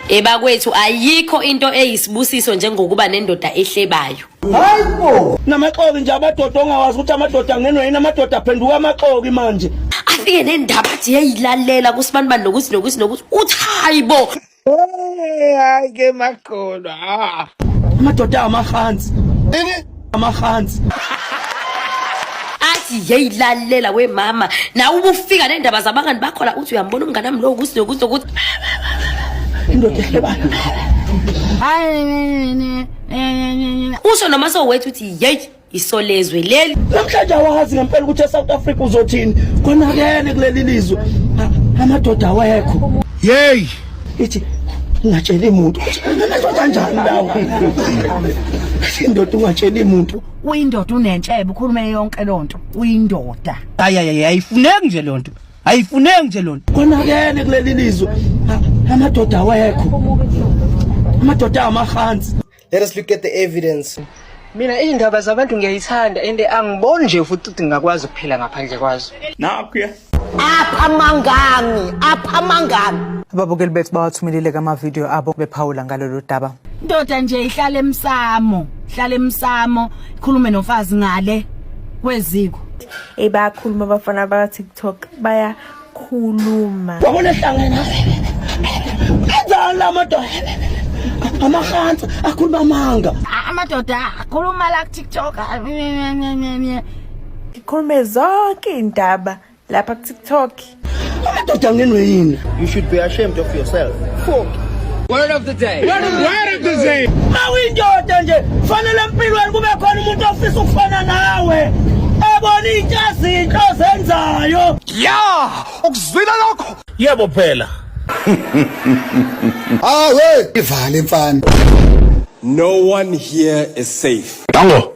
Ebakwethu ayikho into eyisibusiso njengokuba nendoda ehlebayo. Hayibo. Namaxoki nje amadoda ongawazi ukuthi amadoda angenwe yini amadoda aphenduka amaxoki manje. Afike nendaba athi yayilalela kusibani bani nokuthi nokuthi nokuthi uthi hayibo. Hey, hayi ke makholwa. Ah. Amadoda amafansi. Ini? amahansi athi yeyilalela we mama nawe ubufika nendaba zabangani bakho la uthi uyambona umngane wami lowo ukuthi nokuthi nokuthi indoda ehlebana usho noma sowethu uthi yeyi isolezwe leli namhlanje awazi ngempela ukuthi esouth africa uzothini konakene kuleli lizwe A- amadoda awekho yeyi ithi ngingatsheli muntu kanjani lawo indoda ungatsheli muntu uyindoda unentshebe ukhuluma yonke lonto uyindoda ayayaye ayifuneki nje lonto ayifuneki nje lonto konakene kuleli lizwe amadoda awekho amadoda amahansi Let us look at the evidence. Mina izindaba zabantu ngiyayithanda and angiboni nje futhi ukuthi ngingakwazi ukuphila ngaphandle kwazo. Nakho apha mangami apha mangami ababukeli bethu bawathumelile kamavidiyo abo bephawula ngalolu daba indoda nje ihlale emsamo ihlale emsamo ikhulume nomfazi ngale kweziko ebakhuluma abafana baka-tiktok baya khuluma wabona ehlangene enzani la madoda amahansa akhuluma amanga amadoda akhuluma la kutiktok ngikhulume zonke iy'ndaba lapha kutiktok amadoda angenwe yini you should be ashamed of yourself Fuck. Word of the day. Word of, word of the day. Mawindoda nje fanele empilweni kube khona umuntu ofisa ukufana nawe. Ebona intshazinto zenzayo. ya ukuzwile lokho yebo phela awe ivale mfana no one here is safe tango